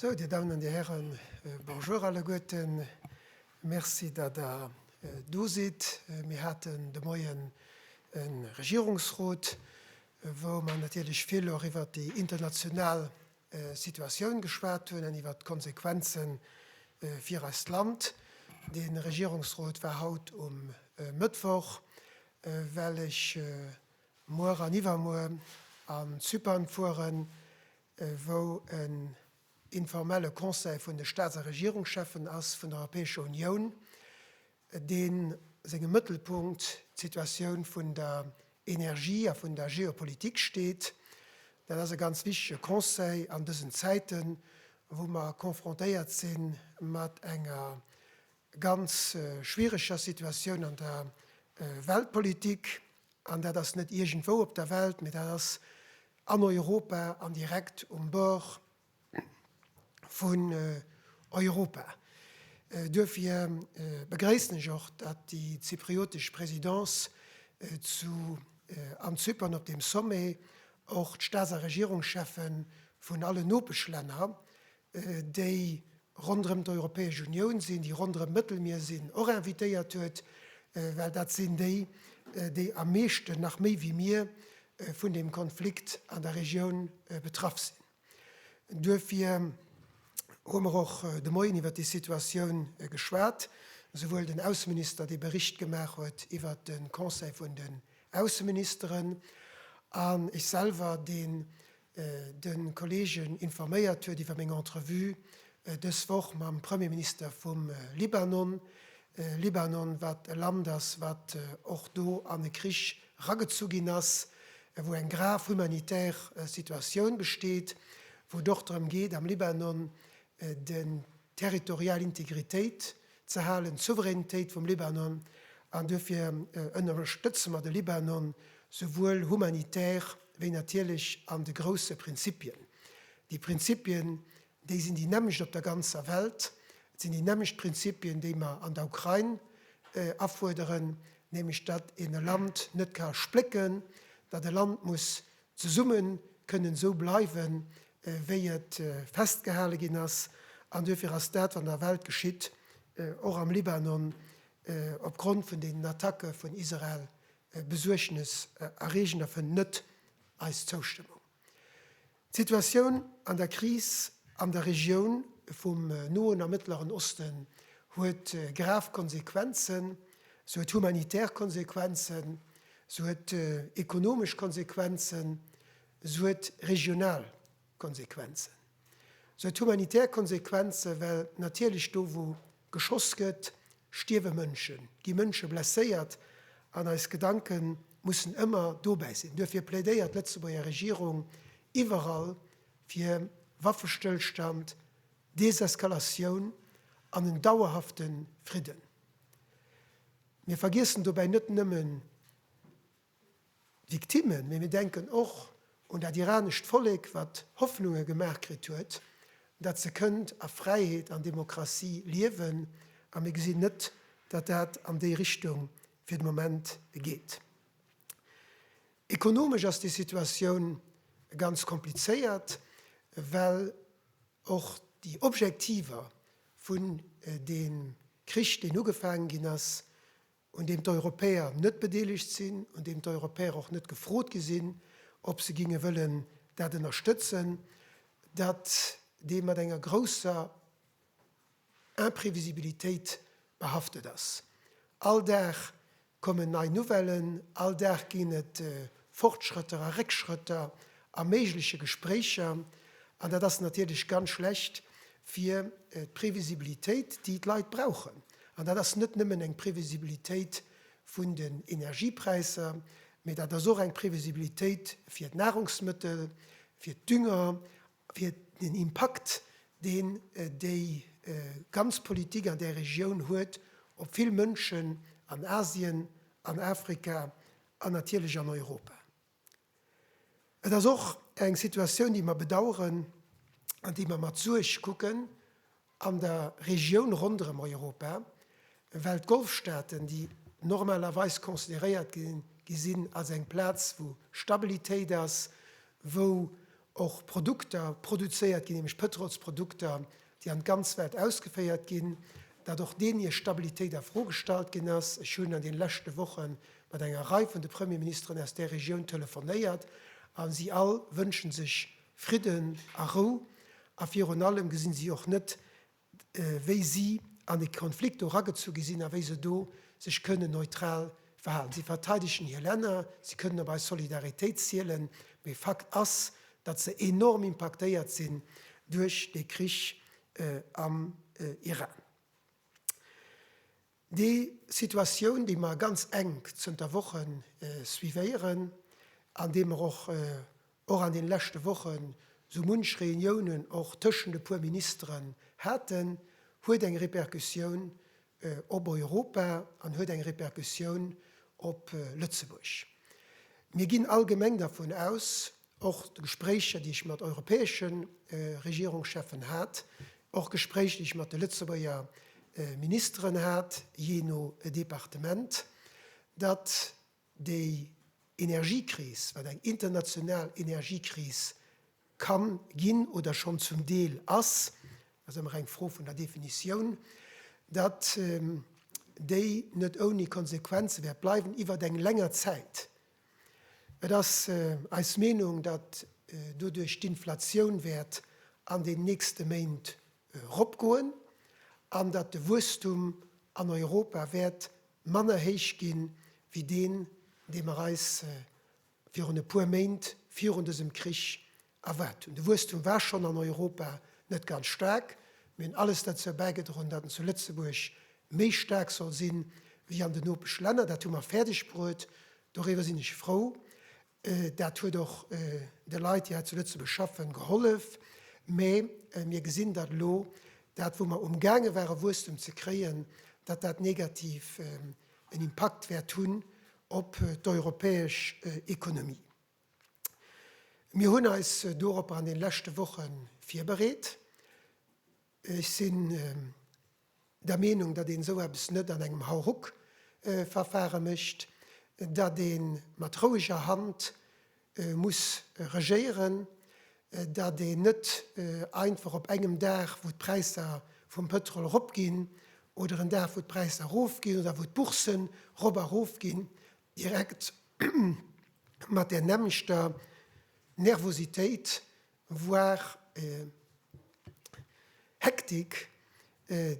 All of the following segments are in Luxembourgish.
Sou, Dir Damen an Dir Hären, Bonjour alleguerten. Merci, datt Der do sidd. Mir haten de Moien e Regierungsrot, wou mer natierlech vill och iwwert déi international Situatioun geschwat hunn an iwwert d'Konsequenze fir eist Land. Dee Regierungsrot war haut um Mëttwoch. Well ech muer an iwwermuer an Zypern fueren, wou en informelle Conseil vun de Staats a Regierungscheffen ass vun der Europäescher Unioun, dee sengem Mëttelpunkt d'Situatioun vun der Energie a vun der Geopolitik steet. Dat ass e ganz wichtege Conseil an dësen Zäiten, wou mer confrontéiert si mat enger ganz schwiereger Situatioun an der Weltpolitik, an dat ass net iergendwou op der Welt, mee dat ass an Europa an direkt um Bord vun Europa. Duerfir begréissen ech och, datt déi zypriotesch Présidence zu an Zypern op deem Sommet och d'Staats a Regierungschefe vun allen Nopeschlänner déi ronderëm d'Europäesch Unioun sinn, déi ronderëm d'Mëttelmier sinn, och invitéiert huet, well dat sinn déi, déi am meeschten, nach méi wéi mir, vun deem Konflikt an der Regioun betraff sinn. Duerfir hu mer och de Moien iwwert déi Situatioun geschwat, esouwuel den Ausseminister, dee Bericht gemaach huet iwwert de Conseil vun den Ausseministeren, an ech selwer, deen de Kollegen informéiert huet iwwer meng Entrevue dës Woch mam Premierminister vum Libanon. Libanon, wat e Land ass, wat och do an e Krich ragezu ginn ass, wou eng grav humanitär Situatioun besteet, wou et och drëm geet am Libanon de territorial Integritéit ze halen, d'Souveränitéit vum Libanon, an duerfir ënnerstëtze mer de Libanon souwuel humanitär wéi natierlech an de grousse Prinzipien. Déi Prinzipien, déi sinn déi nämmlecht op der ganzer Welt. Et sinn déi nämmlecht Prinzipien, déi mer an der Ukrain afuerderen, nämlech datt een e Land net ka splécken, datt e Land muss zesumme kënnen esou bleiwe wéi et festgehale ginn ass, an duerfir ass dat wat an der Welt geschitt, och am Libanon, opgrond vun deenen Attacke vun Israel besuergnes erreegend a fënnt net eis Zoustëmmung. D'Situatioun an der Kris an der Regioun vum Noen a Mëttleren Osten huet grav Konsequenzen, se huet humanitär Konsequenzen, Se huet ekonomesch Konsequenzen, se huet regional Konsequenzen, se huet humanitär Konsequenzen, well natierlech do, wou geschoss gëtt, stierwe Mënschen, gi Mënsche blesséiert, an eis Gedanke mussen ëmmer dobäi sinn. Duerfir plädéiert d'Lëtzebuerger Regierung iwwerall fir Waffestëllstand, Deseskalatioun an en dauerhafte Fridden. Mir vergiessen dobäi net nëmmen d'Victimmen, mee mir denken och un dat iranescht Vollek, wat Hoffnunge gemaach kritt huet, datt se kënnt a Fräiheet an Demokratie liewen. A mir gesinn net, datt dat an déi Richtung fir de Moment geet. Ekonomesch ass déi Situatioun ganz komplizéiert, well. Och déi Objektiver vun deem Krich, deen ugefaangen ginn ass, un deem d'Europäer net bedeelegt sinn, un deem d'Europäer och net gefrot gi sinn, ob se géinge wëllen dat ënnerstëtzen, datt dee mat enger grousser, Imprevisibilitéit behaftet ass. All Dag kommen nei Nouvellen, all Dag ginn et Fortschrëtter a Réckschrëtter a méigleche Gespréicher. An dat ass natierlech ganz schlecht fir d'Previsibilitéit, déi d'Leit brauchen. An dat ass net nëmmen eng Previsibilitéit vun den Energiepräisser, mee dat ass och eng Previsibilitéit fir d'Nahrungsmëttel, fir d'Dünger fir den Impakt, deen déi ganz Politik an där Regioun huet, op vill Mënschen an Asien, an Afrika an natierlech an Europa. Et ass och eng Situatioun, déi mer bedauern an déi mer mat Suerg kucken. An der Regioun ronderëm Europa, well d'Golfstaaten, déi normalerweis consideréiert gi sinn als eng Plaz, wou Stabilitéit ass, wou och Produkter produzéiert ginn, nämlech Pëtrolsprodukter, déi an d'ganz Welt ausgeféiert ginn, datt och deenen hir Stabilitéit a Fro gestallt ginn ass. Ech hunn an deene leschte Woche mat enger Rei vun de Premierministeren aus där Regioun telefonéiert a si all wënsche sech Fridden a Rou, a virun allem gesinn si och net wéi si an e Konflikt do eragezu gi sinn a wéi se do sech kënnen neutral verhalen. Si verteidegen hir Länner, si kënnen op eis Solidaritéit zielen, mee Fakt ass, datt se enorm impaktéiert sinn duerch dee Krich am Iran. Déi Situatioun, déi mer ganz enk zënter Wochen suivéieren an deem mer och och an deene leschte Wochen sou munch Reuniounen och tëschent e puer Ministeren haten, huet eng Repercussioun op Europa an huet eng Repercussioun op Lëtzebuerg. Mir ginn allgemeng dervun aus, Och d'Gespréicher, déi ech mat europäesche Regierungscheffen hat, och Gespréicher, déi ech mat de Lëtzebuerger Ministeren hat, jee no Departement, datt déi Energiekris, wat eng international Energiekris ka ginn oder schonn zum Deel ass, ass ëmmer eng Fro vun der Definitioun, datt déi net ouni Konsequenze wäert bleiwen iwwert eng länger Zäit. Et ass eis Meenung, datt doduerch d'Inflatioun wäert an den nächste Méint eropgoen an datt de Wuesstum an Europa wäert manner héich gi wéi deen, dee mer eis virun e puer Méint virun dësem Krich Erwaart hunn. De Wuesstum war schonn an Europa net ganz staark, mee hunn alles derzou bäigedroen, datt en zu Lëtzebuerg méi staark soll si wéi an den Nopeschlänner. Dat hu mer fäerdegbruet, doriwwer sinn ech frou. Dat huet och de Leit, déi hei zu Lëtzebuerg schaffen, gehollef. Mee mir gesinn, datt elo dat, wou mer umgaange ware Wuesstum ze kréien, datt dat negativ en Impakt wäert hunn op d'europäesch Ekonomie. Mir hunn eis doropper an den leschte Woche virbereet. Ech sinn der Meenung, datt een esou eppes net an engem Hauruck-Verfare mécht, datt ee mat roueger Hand muss regéieren, datt een net einfach op engem Dag, wou d'Präisser vum Pëtrol eropginn, oder en Dag, wou d'Präisser erofginn oder wou d'Bourssen erop a erof ginn, Direkt mat där nämmlechter Nervositéit, voire Hektik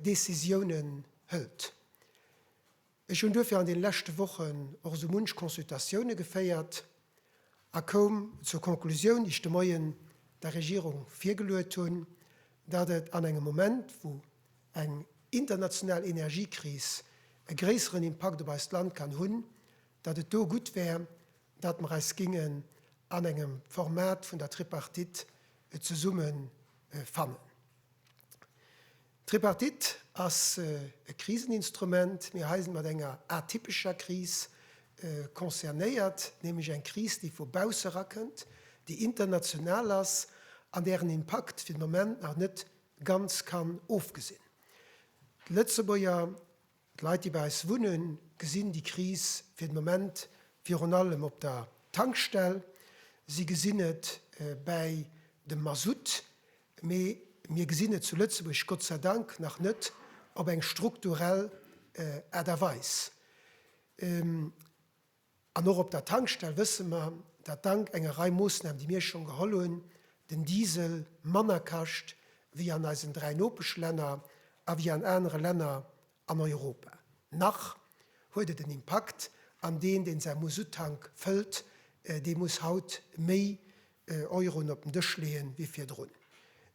Decisiounen hëlt. Ech hunn duerfir an deene leschte Wochen och esou munch Consultatioune geféiert a koum zur Conclusioun, déi ech de Moien der Regierung virgeluet hunn, datt et an engem Moment, wou eng international Energiekris e gréisseren Impakt op eist Land kann hunn, datt et do gutt wär, datt mer eis géingen an engem Format vun der Tripartite zesumme fannen. D'Tripartite ass e Kriseninstrument. Mir hei si mat enger atypescher Kris concernéiert, nämlech eng Kris, déi vu bausse rakënnt, déi international ass an dären Impakt fir de Moment nach net ganz kann ofgesinn. D'Lëtzebuerger, d'Leit déi bei eis wunnen, gesinn déi Kris fir de Moment virun allem op der Tankstell, si gesinn et bäi dem Masutt, mee mir gesinn et zu Lëtzebuerg Gott sei Dank nach net op eng strukturell Aart a Weis. An och op der Tankstell wësse mer, dat dank enger Rei Moossnamen, déi mir schonn geholl hunn, den Diesel manner kascht wéi an eisen dräi Nopeschlänner a wéi an anere Länner an Europa. Nach huet et en Impakt, an deen, deen säi Musuttank fëllt, dee muss haut méi Euroen op den Dësch leeën, wéi virdrun.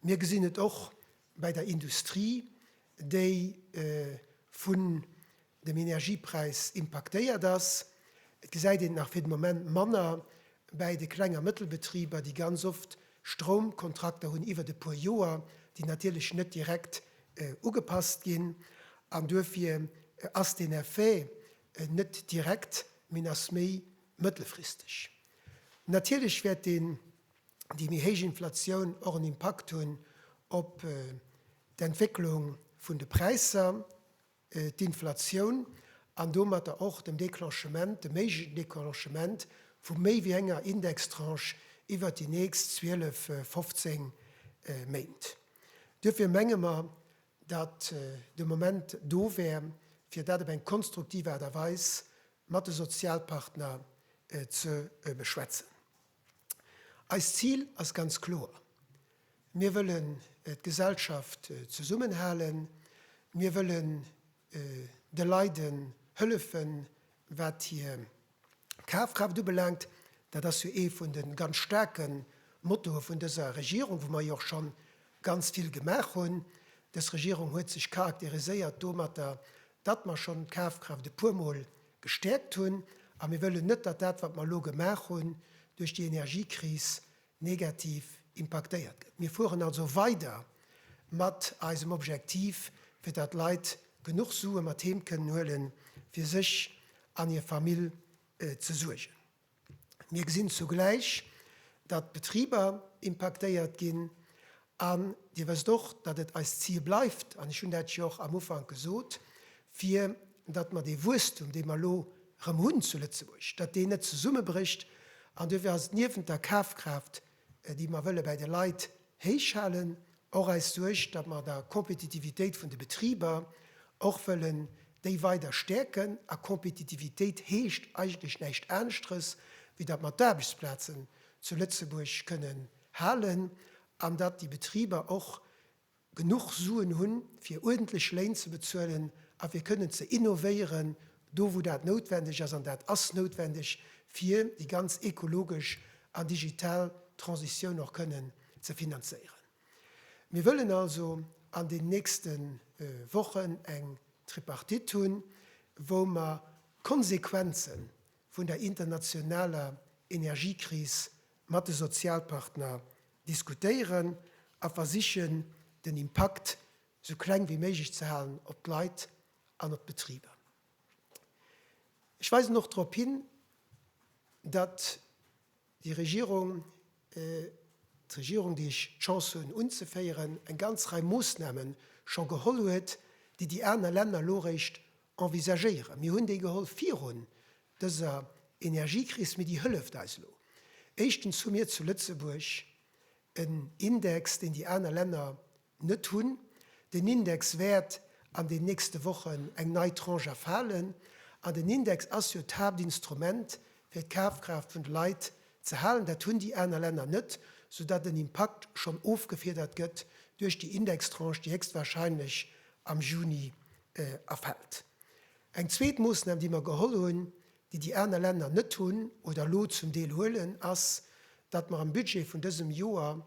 Mir gesinn et och bei der Industrie, déi vun dem Energiepräis impaktéiert ass. Et gesäit een et nach fir de Moment manner bäi de Kleng a Mëttelbetriber, déi ganz oft Stroumkontrakter hunn iwwert e puer Joer, déi natierlech net direkt ugepasst ginn. An duerfir ass deen Effet net direkt, mee en ass méi mëttelfristeg. Natierlech wäert deen, déi méi héich Inflatioun och en Impakt hunn op d'Entwécklung vun de Präisser. d'Inflatioun an domatter och dem Declenchement, dem méiglechen Declenchement vu méi wéi enger Indextranche iwwert déi nächst 12, 15 Méint. Duerfir menge mer, datt de Moment do wär, fir dat op eng konstruktiv Aart a Weis mat de Sozialpartner ze beschwätzen. Eist Zil ass ganz kloer, Mir wëllen d'Gesellschaft zesummenhalen, mir wëllen de Leide hëllefen, wat hir Kafkraaft ubelaangt. Dat ass jo ee vun de ganz staarke Mottoe vun dëser Regierung, wou mer jo och scho ganz vill gemaach hunn. Dës Regierung huet sech charakteriséiert domatter, datt mer schonn d'Kafkraaft e puermol gestäerkt hunn, a mir wëllen net, datt dat, wat mer elo gemaach hunn, duerch déi Energiekris negativ impaktéiert gëtt. Mir fueren also weider mat eisem Objektiv, fir datt d'Leit genuch Sue mat heem kënnen huelen, fir sech an hir Famill ze suergen. Mir gesinn zugläich, datt d'Betriber impaktéiert ginn. An Dir wësst och, datt et eist Zil bleift, an ech hunn dat jo och am Ufank gesot, fir datt mer dee Wuesstum, dee mer elo erëm hunn zu Lëtzebuerg, datt deen net zesummebrécht. An duerfir ass et niewent der Kafkraaft, déi mer wëlle bäi de Leit héichhalen, och eis Suerg, datt mer der Kompetitivitéit vun de Betriber och wëllen déi weider stäerken, a Kompetitivitéit heescht eigentlech näischt aneschteres, wéi datt mer d'Aarbechtsplazen zu Lëtzebuerg kënnen halen an datt déi Betriber och, genuch Suen hunn, fir uerdentlech Léin ze bezuelen a fir kënnen ze innovéieren, do wou dat noutwendeg ass, an dat ass noutwendeg, fir déi ganz ekologesch an digital Transitioun och kënnen ze finanzéieren. Mir wëllen also an den nächste Wochen eng Tripartite hunn, wou mer d'Konsequenze vun der internationaler Energiekris mat de Sozialpartner diskutéieren a versichen, den Impakt esou kleng wéi méiglech ze halen op d'Leit an op d'Betriber. Ech weisen och drop hin, datt déi Regierung, d'Regierung, déi ech d'Chance hunn unzeféieren, eng ganz Rei Moossname scho geholl huet, déi déi aner Länner elo eréischt envisagéieren. Mir hunn déi geholl virun dëser Energiekris, mee déi hëlleft eis elo. Éischtens hu mir zu Lëtzebuerg en Index, deen déi aner Länner net hunn. Den Index wäert an den nächste Wochen eng nei Tranche erfalen. An den Index ass jo d'Haaptinstrument, fir d'Kafkraaft vun de Leit ze halen. Dat hunn déi aner Länner net, soudatt den Impakt schonn ofgefiedert gëtt duerch déi Indextranche, déi héchstwahrscheinlech am Juni erfält. Eng zweet Moossnam, déi mer geholl hunn, déi déi aner Länner net hunn oder elo zum Deel huelen, ass, datt mer am Budget vun dësem Joer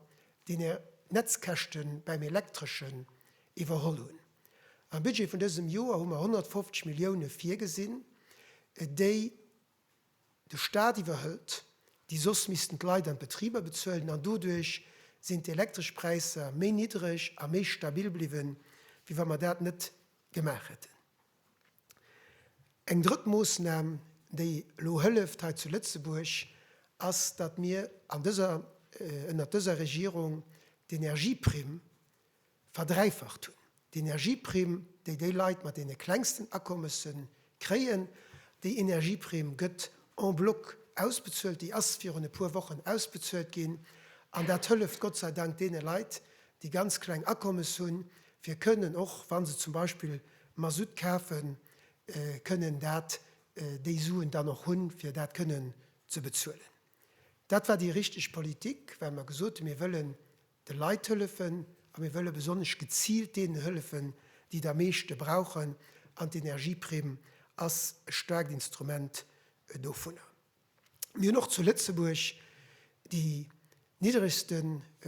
déi Netzkäschte beim Elektreschen iwwerholl hunn. Am Budget vun dësem Joer hu mer 150 Millioune virgesinn, déi De Staat iwwerhëlt déi, soss missten d'Leit an d'Betriber bezuelen an doduerch sinn d'elektresch Präisser méi niddreg a méi stabil bliwwen, wéi wa mer dat net gemaach hätten. Eng drëtt Moossnam, déi elo hëlleft hei zu Lëtzebuerg, ass, datt mir an dëser, ënnert dëser Regierung d'Energieprimm Verdräifacht hunn. D'Energieprimm, déi déi Leit mat deene klengsten Akommesse kréien, déi Energieprimm gëtt en bloc ausbezuelt, déi ass virun e puer Wochen ausbezuelt ginn. An dat hëlleft Gott sei Dank deene Leit, déi ganz kleng Akommesse hunn, fir kënnen, och wa se zum Beispill Masutt kafen, kënnen dat, déi Suen dann och hunn, fir dat kënnen ze bezuelen. Dat war déi richteg Politik, well mer gesot hunn, mir wëllen de Leit hëllefen a mir wëlle besonnesch geziilt deenen hëllefen, déi et am meeschte brauchen, an d'Energieprimm ass e staarkt Instrument dovunner. Mir hunn och zu Lëtzebuerg déi niddregste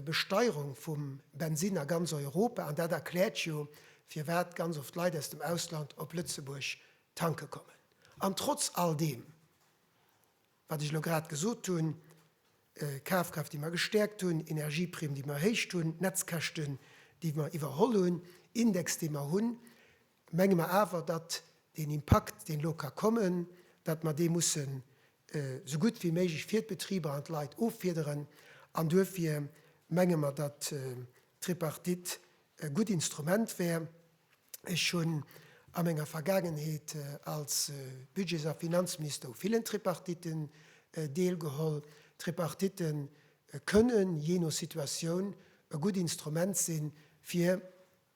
Besteierung vum Bensinn a ganz Europa, an dat erkläert jo, firwat ganz oft Leit aus dem Ausland op Lëtzebuerg tanke kommen. An trotz all deem wat ech elo grad gesot hunn, Kafkraaft, déi mer gestäerkt hunn, Energieprimm, déi mer erhéicht hunn, Netzkäschten, déi mer iwwerholl hunn, Index, dee mer hunn, menge mer awer, datt deen Impakt, deen elo ka kommen, datt mer dee mussen esou gutt wéi méiglech fir d'Betriber an d'Leit offiederen. An duerfir menge mer, datt d'Tripartite E gutt Instrument wär, ech hunn a menger Vergaangenheet als Budgets a Finanzminister u villen Tripartitten deelgeholl, Tripartitte kënne jee no Situatioun e gutt Instrument sinn, fir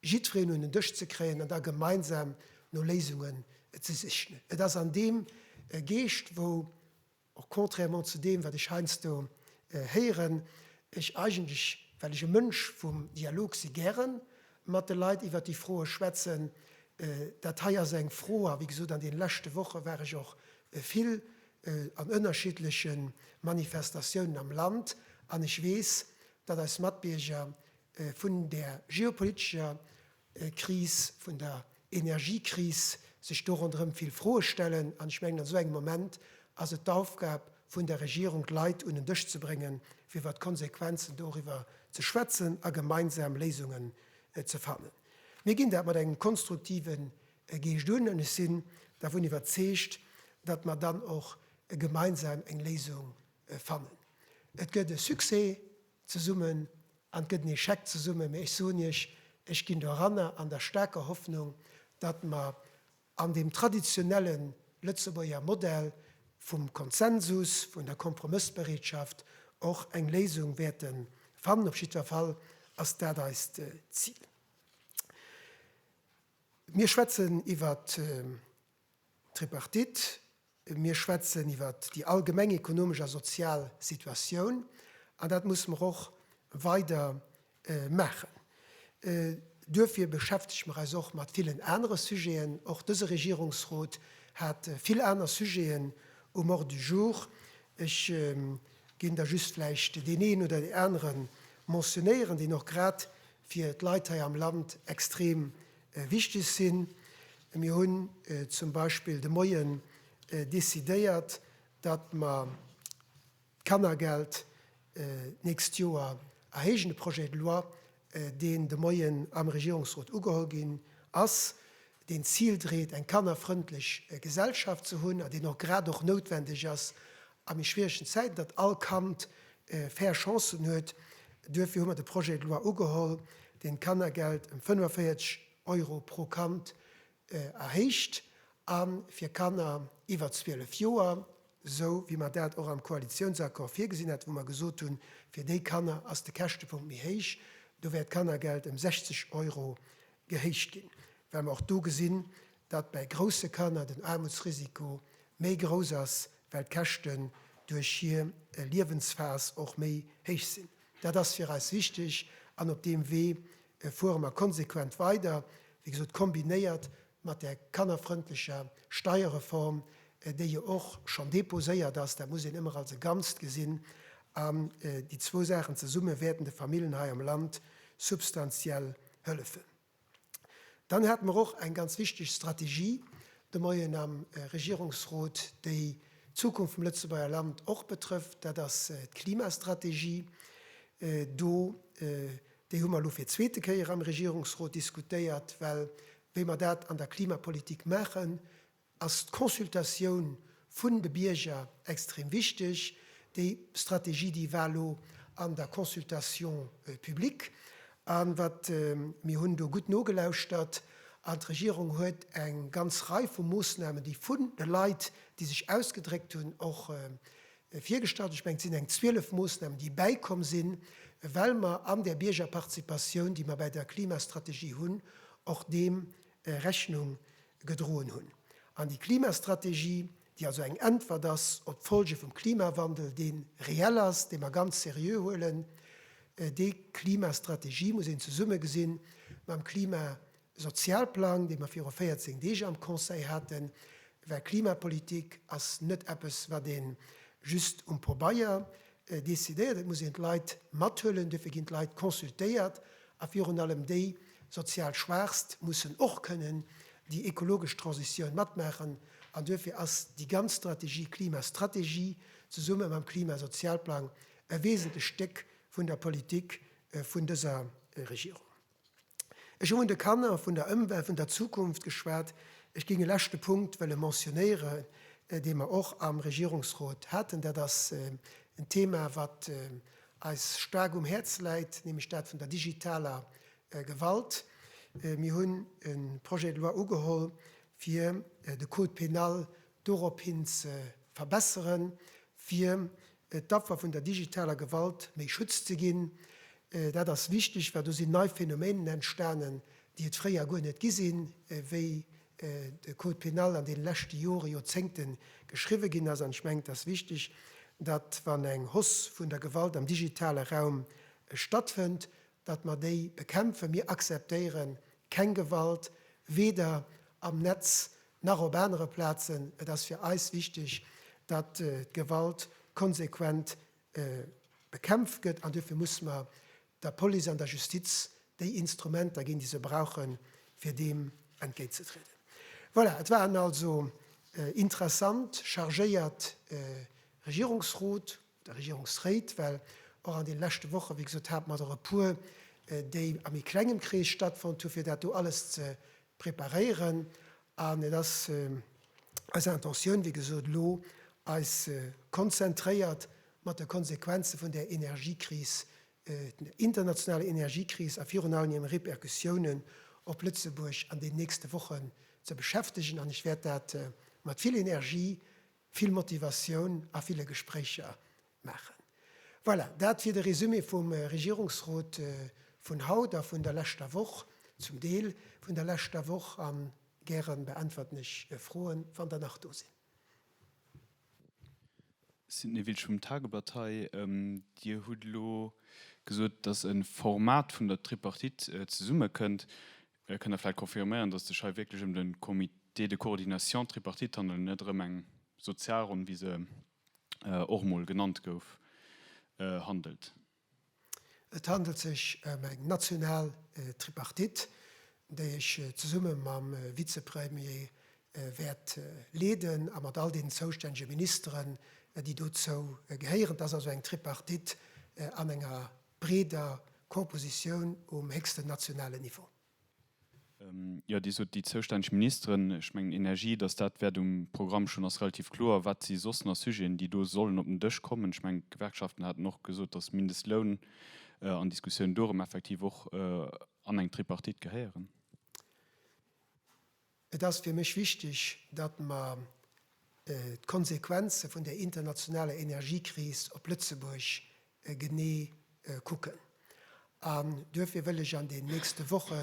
jiddwereen un en Dësch ze kréien an da gemeinsam no Léisungen ze sichen. Et ass an deem Geescht, wou Och contrairement zu deem, wat ech heiansdo héieren, ech eigentlech, well ech e Mënsch vum Dialog si, gäre mat de Leit iwwert déi Froe schwätzen. Dat hei ass eng Fro, a wéi gesot, an deene leschte Woche war ech och vill an ënnerschiddleche Manifestatiounen am Land, an ech weess, datt eis Matbierger vun där geopolitescher Kris, vun der Energiekris, sech do ronderëm vill Froe stellen. An ech mengen, an esou engem Moment ass et d'Aufgab vun der Regierung, d'Leit un en Dësch ze bréngen, fir iwwer d'Konsequenzen doriwwer ze schwätzen a gemeinsam Léisungen ze fannen. Mir ginn dat mat engem konstruktive Geescht un an ech sinn dervun iwwerzeegt, datt mer dann och gemeinsam eng Léisung fannen. Et gëtt e Succès zesummen an gëtt en Echec zesummen, mä ech soen Iech, ech ginn do eranner an der staarker Hoffnung, datt mer an deem traditionelle Lëtzebuerger Modell vum Konsensus, vun der Kompromëssbereetschaft och eng Léisung wäerte fannen. Op jiddwer Fall ass dat eist Zil. Mir schwätzen iwwert D'Tripartite, mir schwätzen iwwer déi allgemeng ekonomesch a sozial Situatioun, an dat musse mer och weider maachen. Duerfir beschäftege mer eis och mat villen anere Sujeten. Och dëse Regierungsrot hat vill aner Sujeten um Ordre du jour. Ech géing der just vläicht deen een oder deen anere mentionéieren, deen och grad fir d'Leit hei am Land extrem wichteg sinn. Mir hunn zum Beispill de Moien decidéiert, datt mer d'Kannergeld d'nächst Joer erhéijen, e Projet de loi, deen de Moien am Regierungsrot ugeholl ginn ass, deen d'Zil dréit, eng kannerfrëndlech Gesellschaft ze hunn, an deen och grad och noutwendeg ass a méi schwieregen Zäiten, datt all Kand fair Chancen huet. Duerfir hu mer de Projet de loi ugeholl, deen d'Kannergeld ëm 45 Euro pro Kand erhéicht, a fir Kanner iwwer 12 Joer, esou wéi mer dat och am Koalitiounsaccord virgesinn haten, wou mer gesot hunn, fir déi Kanner ass de Käschtepunkt méi héich, do wäert d'Kannergeld ëm 60 Euro gehéicht ginn, well mer och do gesinn, datt bäi grousse Kanner den Aarmutsrisiko méi grouss ass, well d'Käschten duerch hir Liewensphas och méi héich sinn. Dat ass fir eis wichteg an op deem Wee fuere mer konsequent weider, wéi gesot kombinéiert mat där kannerfrëndlecher Steierreform, déi jo och schonn deposéiert ass. Dat muss een ëmmer als e Ganzt gesinn an déi zwou Saachen zesumme wäerten de Famillen hei am Land substantiell hëllefen. Dann hate mer och eng ganz wichteg Strategie de Moien am Regierungsrot, déi d'Zukunft vum Lëtzebuerger Land och betrëfft, dat ass d'Klimastrategie. Do, déi hu mer elo fir d'zweete Kéier am Regierungsrot diskutéiert, well wéi mer dat an der Klimapolitik maachen, Ass d'Consultatioun vun de Bierger extrem wichteg, déi Strategie, déi war elo an der Consultation publique, a wat mir hunn do gutt nogelauschtert, an d'Regierung huet eng ganz Rei vu Moosnamen, déi vun de Leit, déi sech ausgedréckt hunn, och virgestallt hunn. Ech mengen, et sinn eng 12 Moosnamen, déi bäikomm sinn, well mer an där Biergerparticipatioun, déi mer bei der Klimastrategie hunn, och deem Rechnung gedroen hunn. An déi Klimastrategie, déi also eng Äntwert ass op d'Folge vum Klimawandel, dee reell ass, dee mer ganz seriö huelen, déi Klimastrategie muss een zesumme gesinn mam Klimasozialplang, dee mer viru 14 Deeg am Conseil haten, well Klimapolitik ass net eppes, wat ee just um Pobeier Decidéiert, et muss een d'Leit mathuelen, duerfir ginn d'Leit consultéiert a virun allem déi sozial Schwaachst mussen och kënnen déi ekologesch Transitioun matmaachen. An duerfir ass déi ganz Strategie, Klimastrategie, zesumme mam Klimasozialplang e wesentlecht Stéck vun der Politik vun dëser Regierung. Ech hu vun de Kanner, vun der Ëmwelt, vun der Zukunft geschwat. Ech géing e leschte Punkt wëlle mentionéieren, dee mer och am Regierungsrot haten. Dat ass en Thema, wat eis staark um Häerz läit, nämlech dat vun der digitaler Gewalt. Mir hunn e Projet de loi ugeholl, fir de Code pénal Dorophin ze verbesseren, fir d'Affer vun der digitaler Gewalt méi Schutz ze ginn. Dat ass wichteg, well do sinn nei Phänomeenen entstanen, déi et fréier guer net gi sinn, wéi de Code pénal an deene leschte Jore, Joerzéngte geschriwwe ginn ass. An ech mengen, et ass wichteg, datt, wann eng Hausse vun der Gewalt am digitale Raum stattfënnt, datt mer déi bekämpfen. Mir akzeptéieren keng Gewalt, weder am Netz nach op anere Plazen. Et ass fir eis wichteg, datt d'Gewalt konsequent bekämpft gëtt an duerfir musse mer der Police an der Justiz déi Instrumenter ginn, déi se brauchen, fir deem entgéintzetrieden. Voilà, et war en also interessant, chargéiert Regierungsrot. der Regierungsréit, well och an deene leschte Woche, wéi gesot, hate mer der e puer, déi a méi klengem Krees stattfonnt hunn, fir dat do alles ze preparéieren. An et ass eis Intentioun, wéi gesot, elo eis konzentréiert mat de Konsequenze vun där Energiekris, der internationaler Energiekris a virun allem hiren Repercussiounen op Lëtzebuerg an deenen nächste Wochen ze beschäftegen. An ech wäert dat mat vill Energie vill Motivatioun a ville Gespréicher maachen. Voilà, dat wier de Resumé vum Regierungsrot vun haut a vun der leschter Woch, zum Deel vun der leschter Woch. A gäre beäntwerten ech Froen, wann der nach do sinn. Signe Wiltsch vum Tageblatt hei. Dir hutt elo gesot, datt e Format vun der Tripartite zesummekënnt. Mir kënne vläicht confirméieren, dass et sech hei wierklech ëm de Comité de coordination tripartite handelt, net erëm eng Sozialronn, wéi se och emol genannt gouf, handelt. Et handelt sech ëm eng national Tripartite, déi ech zesumme mam Vizepremier wäert leeden a mat all deenen zoustännege Ministeren, déi dozou gehéieren. Et ass also eng Tripartite an enger breeder Cooppositioun um héchsten nationalen Niveau. Jo, Dir sot déi zoustänneg Ministeren. Ech mengen, Energie, datt dat wäert um Programm stoen, ass relativ kloer. Wat si soss nach Sujeten, déi do sollen op den Dësch kommen? Ech mengen, d'Gewerkschaften haten och gesot, datt Mindestloun an Diskussioun dorëm effektiv och an eng Tripartite gehéieren. Et ass fir mech wichteg, datt mer d'Konsequenze vun der internationaler Energiekris op Lëtzebuerg genee kucken. An duerfir wëll ech an den nächste Woche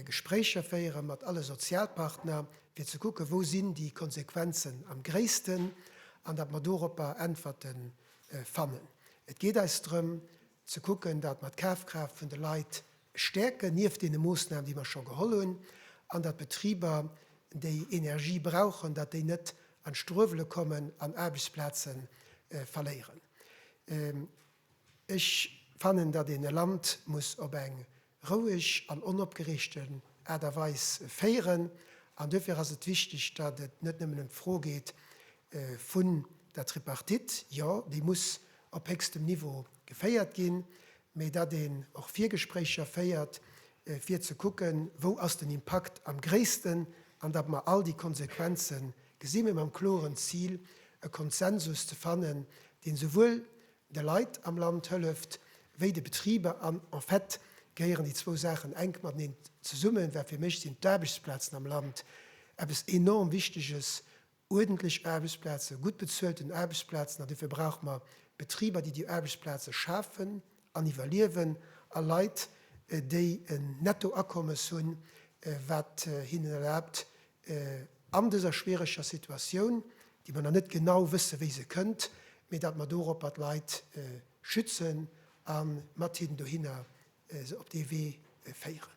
Gespréicher féiere mat alle Sozialpartner, fir ze kucken, wou sinn déi Konsequenzen am gréissten, an datt mer doropper Äntwerte fannen. Et geet eis drëm, ze kucken, datt mer d'Kafkraaft vun de Leit stäerken, nieft deene Moossnamen, déi mer scho geholl hunn, an datt d'Betriber, déi Energie brauchen, datt déi net an d'Struewele kommen an Aarbechtsplaze verléieren. Ech fannen, datt een e Land muss op eng roueg an onopgereegten Aart a Weis féieren. An duerfir ass et wichteg, datt et net nëmmen ëm d'Fro geet vun der Tripartite, jo, déi muss op héchstem Niveau geféiert ginn, mee datt een och Virgespréicher féiert, fir ze kucken, wou ass den Impakt am gréissten, an datt mer all déi Konsequenze gesi mee mam kloren Zil, e Konsensus ze fannen, dee souwuel de Leit am Land hëlleft, wéi de Betriber an en fait gehéieren déi zwou Saachen enk mateneen zesummen, wat fir mech sinn d'Aarbechtsplazen am Land, eppes enorm Wichteges, uerdentlech Aarbechtsplazen, gutt bezuelten Aarbechtsplazen. An dofir brauche mer Betriber, déi déi Aarbechtsplaze schafen an iwwerliewen, a Leit, déi en Nettoakommes hunn, wat hinnen erlaabt, an dëser schwiereger Situatioun, déi mer nach net genau wëssen, wéi se kënnt, mee datt mer doropper d'Leit schützen a mat hinnen dohinner se op dee Wee féieren.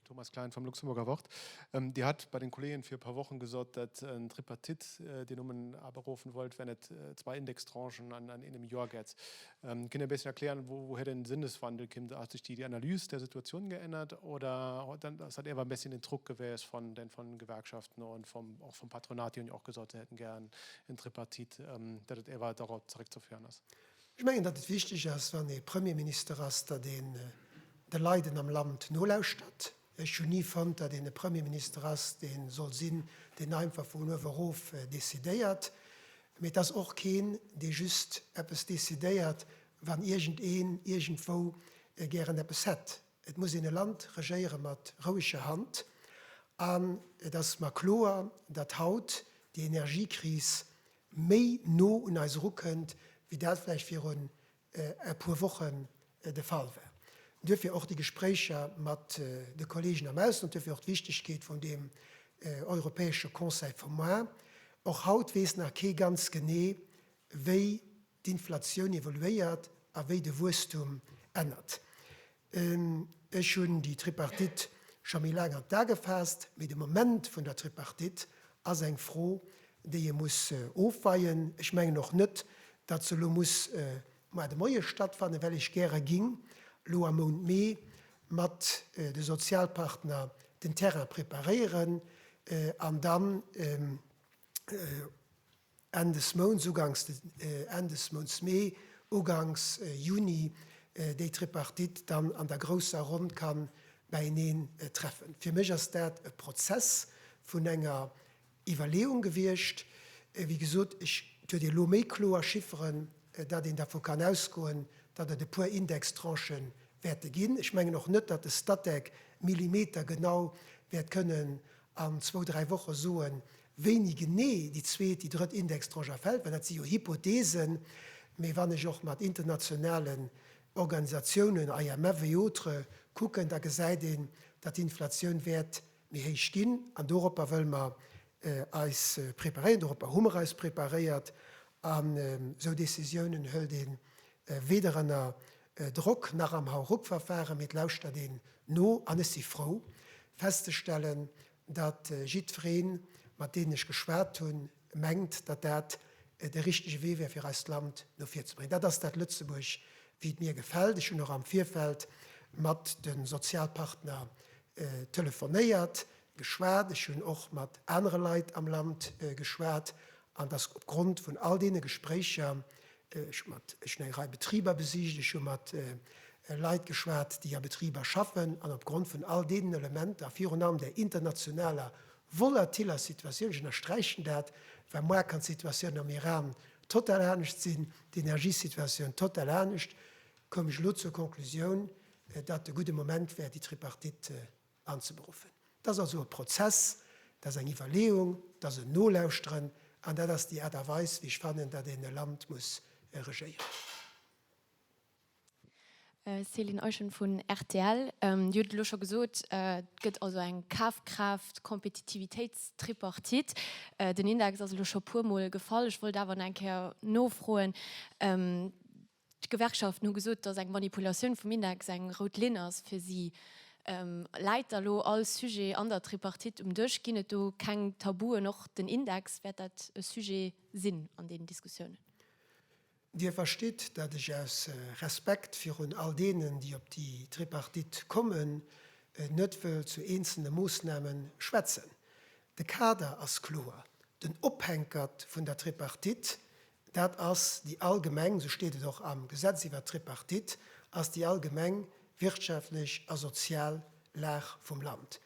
Thomas Klein vum Luxemburger Wort, Dir hat bei den Kollegen vir e puer Wochen gesot, dat en Tripartite, deen Numm en aberufen wollt, wär net zwar Indextranchen an engem Joer gett. Kënnt Dir e bëssen erklären, wouhir den Sënneswandel kënnt? Hat sech déi Analyse der Situation geännert oder ass dat ewer e bësschen den Druck gewäes von den von Gewerkschaften und vom och vom Patronat, déi hunn jo och gesot, se hätten gären en Tripartite, datt et ewer dorop zeréckzeféieren ass? Ech mengen, datt et wichteg ass, wann ee Premierminister ass, datt een de Leiden am Land nolauschtert, Ech hunn ni fonnt, datt een e Premierminister ass, dee soll sinn, deen einfach vun uewe rof decidéiert. Mee et ass och keen, dee just eppes decidéiert, wann iergendeen iergendwou gären eppes hätt. Et muss een e Land regéiere mat roueger Hand. An et ass mer kloer, datt haut déi Energiekris méi no un eis erukënnt, wéi dat vläicht virun e puer Wochen de Fall war. Duerfir och déi Gespréicher mat de Kollegen am Ausland, duerfir och d'Wichtigkeet vun deem europäesche Conseil vum Mois. Och haut weess nach kee ganz genee, wéi d'Inflatioun evoluéiert a wéi de Wuesstum ännert. Ech hunn déi Tripartite scho méi laang an d'A gefaasst, mee de Moment vun der Tripartite ass eng Fro, déi ee muss ofweien. Ech mengen och net, datt se elo muss mar de Moie stattfannen, well ech gäre ging elo am Mount Mee mat de Sozialpartner den Terrain preparéieren an dann, Enn des Mounts, ugangs Enn des Mounts Mee, ugangs Juni déi Tripartite dann an der grousser Ronn ka bäieneen treffen. Fir mech ass dat e Prozess vun enger Iwwerleeung gewiescht. Wéi gesot, ech huet ee lo méi kloer Chifferen, datt een dervu kann ausgoen, datt et e puer Indextranchë wäerte ginn. Ech mengen och net, datt de Statec millimetergenau wäert kënnen an zwou, dräi Woche soen, wéini genee déi zweet, déi drëtt Indextranche erfält, well dat si jo Hypotheesen. Mee wann ech och mat internationalen Organisatiounen, IMF et autres, kucken, da gesäit een, datt d'Inflatioun wäert méi héich ginn. An doropper wëlle mer eis preparéieren, doropper hu mer eis preparéiert. An esou Décisiounen hëlt ee weder ënner Drock nach am Hauruck-Verfahren, mee et lauschtert een no. An ech si frou, festzestellen, datt jiddweree mat deenen ech geschwat hunn, mengt, datt dat de richtege Wee wär, fir eist Land no vir ze bréngen. Dat ass dat Lëtzebuerg, wéi et mir gefält. Ech hunn och am Virfeld mat de Sozialpartner telefonéiert, geschwat, ech hunn och mat anere Leit am Land geschwat an dass opgrond vun all deene Gespréicher, ech hu mat, ech hunn eng Rei Betriber besicht, ech hu mat Leit geschwat, déi a Betriber schaffen, an opgrond vun all deenen Elementer, virun allem där internationaler volatiller Situatioun, ech ënnersträichen dat, well moar kann d'Situatioun am Iran total anescht sinn, d'Energiesituatioun total anescht, koum ech elo zur Konklusioun, datt e gudde Moment wär, déi Tripartite anzeberuffen. Dat ass also e Prozess, dat ass eng Iwwerleeung, dat ass en Nolauschteren an dat ass déi Aart a Weis, wéi ech fannen, datt een e Land muss regéieren. Céline Eischen vun rtl, Dir hutt et elo scho gesot, et gëtt also eng Kafkraaft-Kompetitivitéits-Tripartite. Den Index ass elo scho e puermol gefall. Ech wollt awer nach eng Kéier nofroen, D'Gewerkschaften hu gesot, datt eng Manipulatioun vum Index eng rout Linn ass fir si. Läit da lo all Sujet an der Tripartite um Dësch? Ginn et do keng Tabuen? Och den Index, wäert dat e Sujet sinn an deenen Diskussiounen? Dir verstitt, datt ech aus Respekt virun all deenen, déi op déi Tripartite kommen, net wëll zu eenzele Moossname schwätzen. De Kader ass kloer. Den Ophänkert vun der Tripartite Dat ass déi allgemeng, esou steet et och am Gesetz iwwert d'Tripartite, ass déi allgemeng wirtschaftlech a sozial Lag vum Land.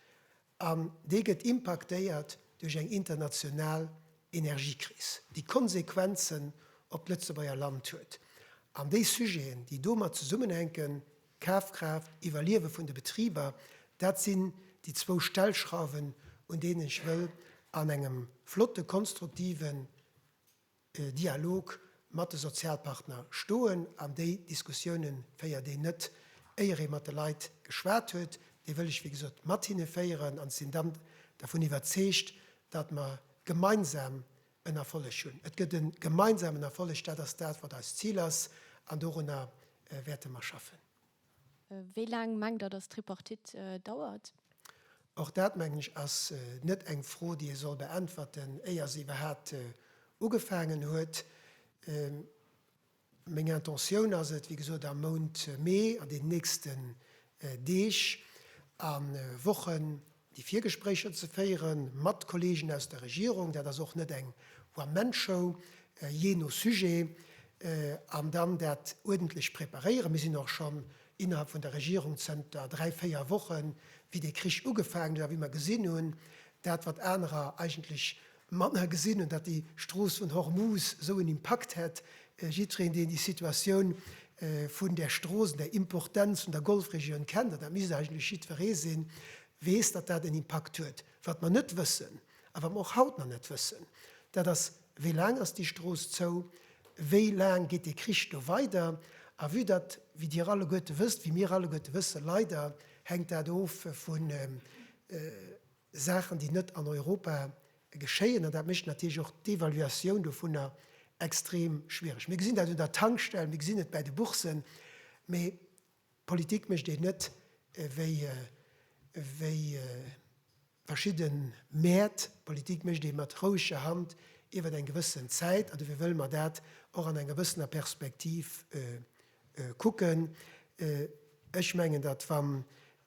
An déi gëtt impaktéiert duerch eng international Energiekris, déi Konsequenzen op d'Lëtzebuerger Land huet. An déi Sujeten, déi domat zesummenhänken, Kafkraaft, Iwwerliewe vun de Betriber, dat sinn déi zwou Stellschrauwen, un deenen ech wëll an engem flotte konstruktive Dialog mat de Sozialpartner stoen an déi Diskussioune féiert een net, éier ee mat de Leit geschwat huet. Déi wëll ech, wéi gesot, mat hinne féieren an sinn dann dervun iwwerzeegt, datt mer gemeinsam en Erfolleg hunn. Et gëtt e gemeinsamen Erfolleg, dat ass dat, wat eist Zil ass, an dorunner wäerte mer schaffen. Wéi laang mengt Der, dass d'Tripartite dauert? Och dat, mengen ech, ass net eng Fro, déi ee soll beäntwerten, éier se iwwerhaapt ugefaangen huet. Meng Intentioun ass et, wéi gesot, am Mount Mee, an den nächsten Deeg a Wochen, déi Virgespréicher ze féiere mat Kolleegen aus der Regierung, dat ass och net eng One-Man-Show, jee no Sujet, an dann dat uerdentlech preparéieren. Mir sinn och schonn innerhalb vun der Regierung zënter dräi, véier Wochen, wéi dee Krich ugefaangen huet a wéi mer gesinn hunn, dat wat anerer eigentlech Mat na gesinn hunn, datt déi Strooss vun Hormuz esou en Impakt hätt. Jiddreen, deen déi Situatioun vun där Strooss an der Importenz vun der Golfregioun kennt, an dat misst eigentlech jiddweree sinn, weess, datt dat en Impakt huet. Wat mer net wëssen, a wat mer och haut nach net wëssen, dat ass, Wéi laang ass déi Strooss zou? Wéi laang geet dee Krich do weider? A vue datt, wéi Dir alleguerte wësst, wéi mir alleguerte wëssen, leider, hänkt dat of vu, Saachen, déi net an Europa geschéien, an dat mécht natierlech och d'Evaluatioun dovunner extrem schwiereg. Mir gesinn dat un der Tankstell, mir gesinn et bäi de Bourssen, mä Politik mécht een net wéi verschidde Mäert, Politik mécht ee mat roueger Hand iwwert eng gewëssen Zäit, an dofir wëlle mer dat och an enger gewëssener Perspektiv kucken. Ech mengen, datt, wann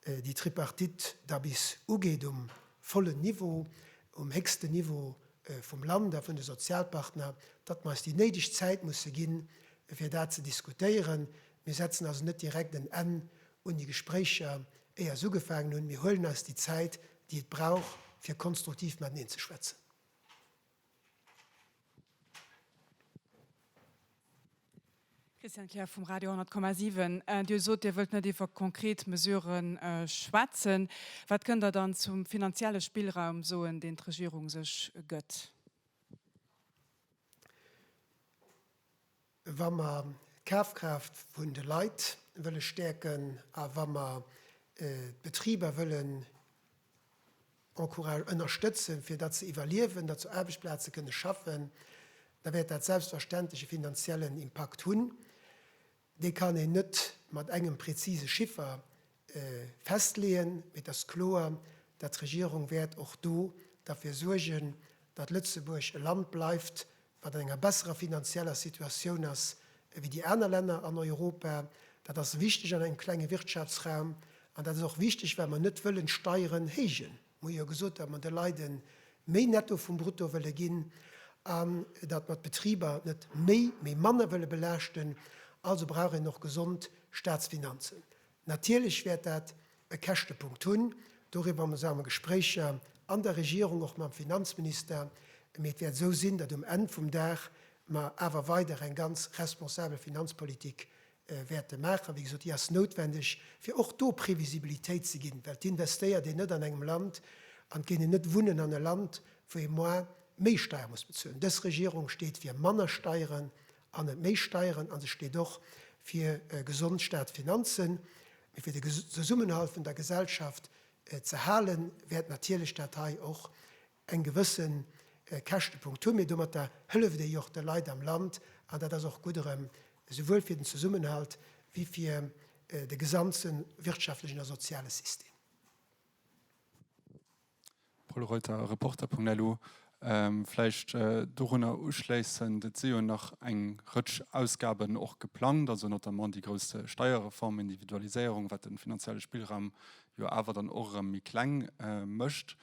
déi Tripartite da bis ugeet um vollen Niveau, um héchsten Niveau vum Land a vun de Sozialpartner, datt mer eis déi néideg Zäit musse ginn, fir dat ze diskutéieren. Mir setzen also net direkt en Enn un déi Gespréicher, éier se ugefaangen hunn. Mir huelen eis déi Zäit, déi et brauch, fir konstruktiv mateneen ze schwätzen. Christiane Kleer vum Radio 10,7. Dir hutt gesot, Dir wëllt net iwwer konkret Mesurë schwätzen. Wat kënnt Der dann zum finanzielle Spillraum soen, deen d'Regierung sech gëtt? wa mer d'Kafkraaft vun de Leit wëlle stäerken a wa mer d'Betriber wëllen ënnerstëtzen, fir datt se iwwerliewen, datt se Aarbechtsplaze kënne schaffen, da wäert dat selbstverständlech e finanziellen Impakt hunn. Dee kann een net mat engem präzise Chiffer festleeën, mee et ass kloer, datt d'Regierung wäert och do derfir suergen, datt Lëtzebuerg e Land bleift, wat an enger besserer finanzieller Situatioun ass ewéi déi aner Länner an Europa. Dat ass wichteg an engem klenge Wirtschaftsraum an dat ass och wichteg, well mer net wëllen d'Steieren héijen. Mir hu jo gesot, datt mer de Leide méi netto vum brutto wëlle ginn an datt mer d'Betriber net méi, mee manner wëlle belaaschten. Also brauch een och gesond Staatsfinanzen. Natierlech wäert dat e Käschtepunkt hunn. Doriwwer muss am Gespréicher an der Regierung, och mam Finanzminister, mee et wäert esou sinn, datt um Enn vum Dag mer awer weider eng ganz responsabel Finanzpolitik wäerte maachen. Wéi gesot, déi ass noutwendeg, fir och do Previsibilitéit ze ginn, well d'investéiert een net an engem Land an et géing een net wunnen an e Land, wou ee moar méi Steier muss bezuelen. Dës Regierung steet fir manner Steieren An net méi Steieren. A se steet och fir gesond Staatsfinanzen. Mee fir de Zesummenhalt vun der Gesellschaft ze hale wäert natierlech dat hei och eng gewësse Käschtepunkt hunn. Mee domatter hëlleft ee jo och de Leit am Land. An dat ass och gutt erëm, esouwuel fir den Zesummenhalt wéi fir de gesamte wirtschaftlechen a soziale System. Paul Reuter, Reporter.lu, Vläicht dorunner uschléissend, et si jo nach eng Rëtsch Ausgaben och geplangt, also notamment déi grouss Steierreform, Individualiséierung, wat de finanzielle Spillraum jo awer dann och erëm méi kleng mécht.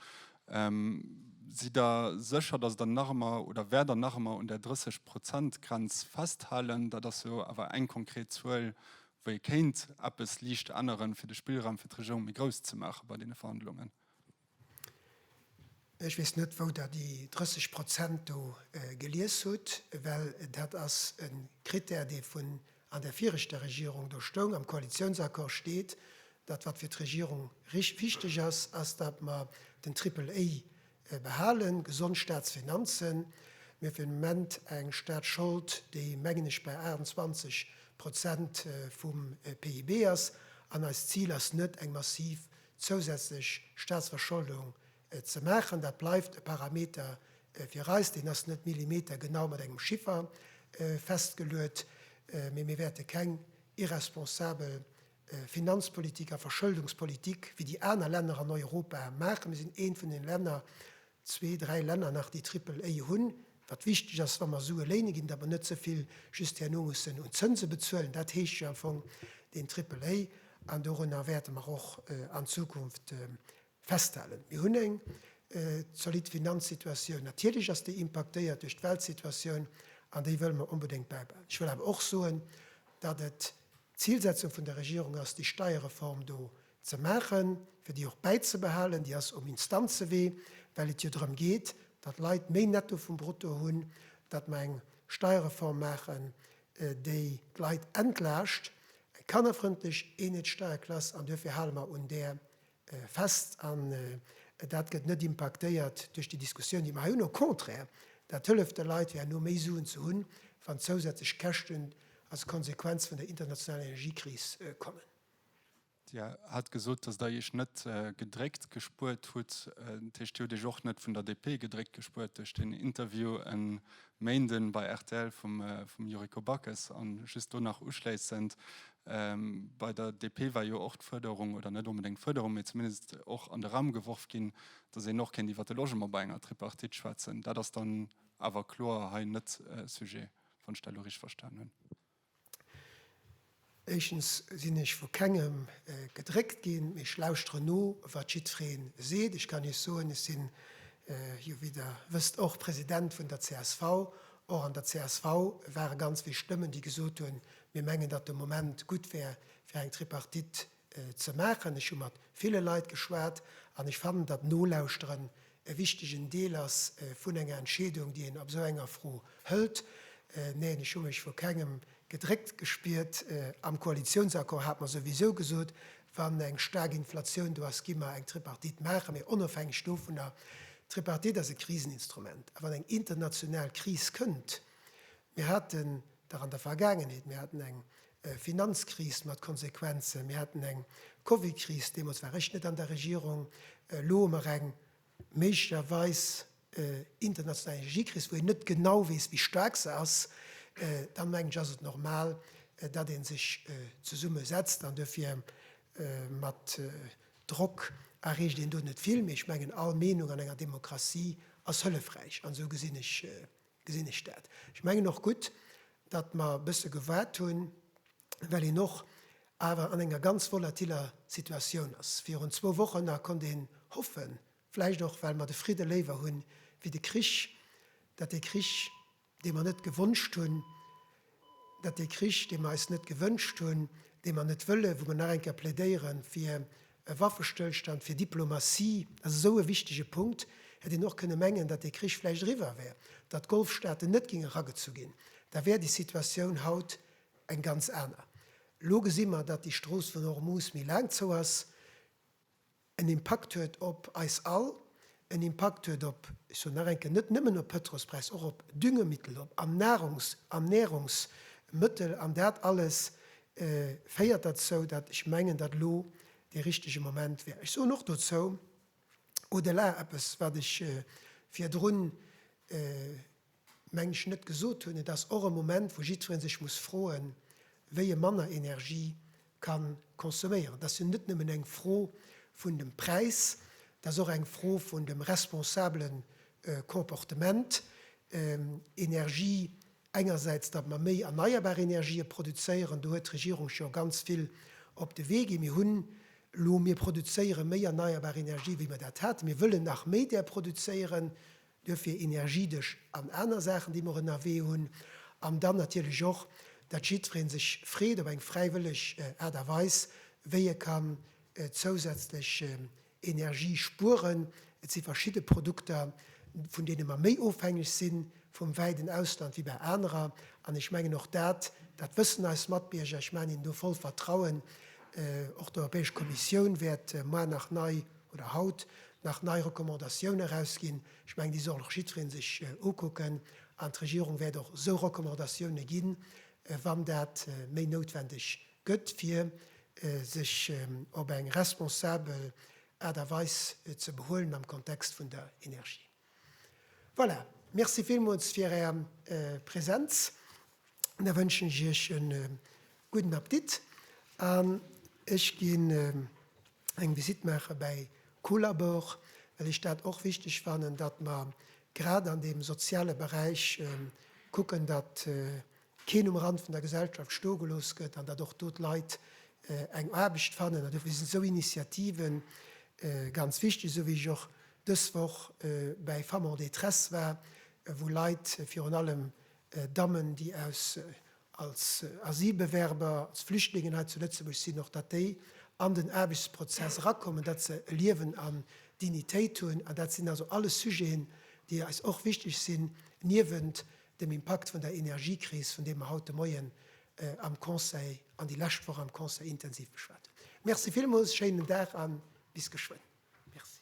Sidd Der sécher, datt Der nach ëmmer oder wäert Der nach ëmmer un där 30 Prozent Grenz festhalen? Dat ass jo awer eng konkret Zuel, Wéi kéint eppes liicht änneren, fir de Spillraum fir d'Regierung méi grouss ze maachen bei deene Verhandlungen? Ech weess net, wou Der déi 30 Prozent do gelies hutt, well dat ass e Krittär, dee vun an der viregter Regierung do stoung. Am Koalitiounsaccord steet, datt, wat fir d'Regierung wichteg ass, ass, datt mer den Triple-A Mir behale gesond Staatsfinanzen. Mir hu fir den Moment eng Staatsschold, déi, mengen ech, bei 28 Prozent vum PIB ass. An eist Zil ass net, eng massiv zousätzlech Staatsverscholdung ze maachen. Dat bleift e Parameter fir eis. Deen ass net millimetergenau mat engem Chiffer festgeluet. Mee mir wäerte keng irresponsabel Finanzpolitik a Verschëldungspolitik wéi déi aner Länner an Europa maachen. Mir sinn eent vun den Länner, zwee, dräi Länner nach, déi Triple A hunn, wat wichteg ass, wa mer Sue léine ginn, datt mer net ze vill just herno mussen un Zënse bezuelen. Dat heescht jo am Fong deen Triple A, an dorunner wäerte mer och an Zukunft festhalen. Mir hunn eng zolidd Finanzsituatioun. Natierlech ass déi impaktéiert duerch d'Weltsituatioun, an déi wëlle mer onbedéngt bäibehalen. Ech wëll awer och soen, datt et D'Zilsetzung vun der Regierung ass, déi Steierreform do ze maachen, fir déi och bäizebehalen. Déi ass um Instanzewee, well et jo drëm geet, datt Leit méi Netto vum Brutto hunn, datt mer eng Steierreform maachen, déi d'Leit entlaascht, eng kannerfrëndlech Eenheetssteierklass. An duerfir hale mer un där fest an dat gëtt net impaktéiert duerch déi Diskussioun, déi mer hei hunn. Au contraire, dat hëlleft de Leit fir herno méi Suen ze hunn, wann zousätzlech Käschten als Konsequenz vun der internationaler Energiekris kommen. Dir hat gesot, datt Der Iech net gedréckt gespuert hutt. Dat heescht, Dir hutt Iech och net vun der DP gedréckt gespuert duerch deen Interview e Méinden bei rtl vum Yuriko Backes? An just do nach uschléissend, Bei der DP war jo och d'Fuerderung, oder net onbedéngt d'Fuerderung, mee zumindest och an de Raum geworf ginn, datt een och kéint iwwer de Logement bei enger Tripartite schwätzen. Dat ass dann awer kloer hei net Sujet, wann ech dat elo richteg verstan hunn. Éischtens sinn ech vu kengem gedréckt ginn, mee ech lauschteren no, wat jiddweree seet. Ech kann Iech soen, ech sinn jo, wéi Der wësst, och President vun der csv. Och an der csv ware ganz vill Stëmmen, déi gesot hunn, Mir mengen, datt de Moment gutt wär, fir eng Tripartite ze maachen. Ech hu mat ville Leit geschwat an ech fannen, datt Nolauschteren e wichtegen Deel ass vun enger Entscheedung, déi een ab esou enger Fro hëlt. Neen, ech hu mech vu kengem gedréckt gespiert. Am Koalitiounsaccord hat mer souwisou gesot, wann eng staark Inflatioun do ass, gi mer eng Tripartite maachen, mee onofhängeg dovunner. D'Tripartite ass e Kriseninstrument a wann eng international Kris kënnt, Mir haten dach an der Vergaangenheet, mir haten eng Finanzkris mat Konsequenzen, mir haten eng Covidkris, deemools war ech net an der Regierung, elo hu mer eng méiglecherweis international Energiekris, wou een net genau weess, wéi staark se ass, da mengen ech, ass et normal, datt ee sech zesumme setzt an duerfir mat Drock erreecht een do net vill. Mee ech mengen, all Meenung an enger Demokratie ass hëllefräich an esou gesinn ech gesinn ech dat. Ech mengen och gutt, datt mer e bësse gewaart hunn, well een och awer an enger ganz volatiller Situatioun ass. Virun zwou Wochen nach konnt een hoffen, vläicht och well mer de Fridde léiwer hu wéi de Krich, datt dee Krich, dee mer net gewonscht hunn, Dat dee Krich, dee mer eis net gewënscht hunn, dee mer net wëllen, wou mer nach eng Kéier plädéiere fir e Waffestëllstand, fir Diplomatie, dat ass esou e wichtige Punkt, hätt een och kënne mengen, datt dee Krich vläicht eriwwer wär, datt d'Golfstaaten net géinge ragezu ginn, da wär déi Situatioun haut eng ganz aner. Elo gesi mer, datt déi Strooss vun Hormuz méi laang zou ass. en Impakt huet op eis all, en Impakt huet op, ech soen nach eng Kéier, net nëmmen op Pëtrolspräis, och op Düngemittel, op Nahrungs an Nährungsmëttel. An dat alles féiert derzou, datt ech mengen, datt elo dee richtege Moment wär. Ech soen och dozou au-delà eppes, wat ech virdrun, meng ech, net gesot hunn, et ass och e Moment, wou jiddweree sech muss froen, wéi e manner Energie ka consomméieren. Et ass jo net nëmmen eng Fro vun dem Präis, et ass och eng Fro vun dem responsabele Comportement, Energie engersäits, datt mer méi erneierbar Energië produzéieren, do huet d'Regierung scho ganz vill op de Wee gi. Mir hunn elo, mir produzéiere méi erneierbar Energie, wéi mer dat haten. Mir wëllen nach méi där produzéieren, Duerfir Energiedesch an aner Saachen, déi mer ënnerwee hunn. An dann natierlech och, datt jiddweree sech freet op eng fräiwëlleg Aart a Weis, wéi e kann zousätzlech Energie spueren. Et si verschidde Produkter, vun deene mer méi ofhängeg si vum wäiten Ausland wéi bei anerer. An ech mengen, och dat, dat wëssen eis Matbierger. Ech maachen hinnen do voll Vertrauen. Och d'Europäesch Kommissioun wäert moar nach nei oder haut nach nei Recommandatiounen erausginn. Ech mengen, déi soll och jiddweree sech ukucken an d'Regierung wäert och esou Recommandatioune ginn, wann dat méi noutwendeg gëtt, fir sech op eng responsabel Aart a Weis ze behuelen am Kontext vun der Energie. Voilà, Merci villmools fir Är Präsenz. Da wënschen ech Iech e gudden Appetit an ech ginn eng Visite maache bäi Colabor, well ech dat och wichteg fannen, datt mer grad an deem soziale Beräich kucken, datt keen um Rand vun der Gesellschaft stoe gelooss gëtt an datt och do d'Leit eng Aarbecht fannen. An dofir sinn esou Initiative ganz wichteg, esou wéi ech och dës Woch bäi Femmes en détresse war, wou Leit, virun allem Dammen, déi aus als Asylbewerber, als Flüchtlingen hei zu Lëtzebuerg sinn, och datt déi an den Aarbechtsprozess erakommen, datt se e Liewen an Dignitéit hunn. An dat sinn also alles Sujeten, déi eis och wichteg sinn, niewent dem Impakt vun der Energiekris, vun deem mer haut de Moien am Conseil an déi lescht Woch am Conseil intensiv geschwat hunn. Merci villmools, schéinen Dag a bis geschwënn. Merci.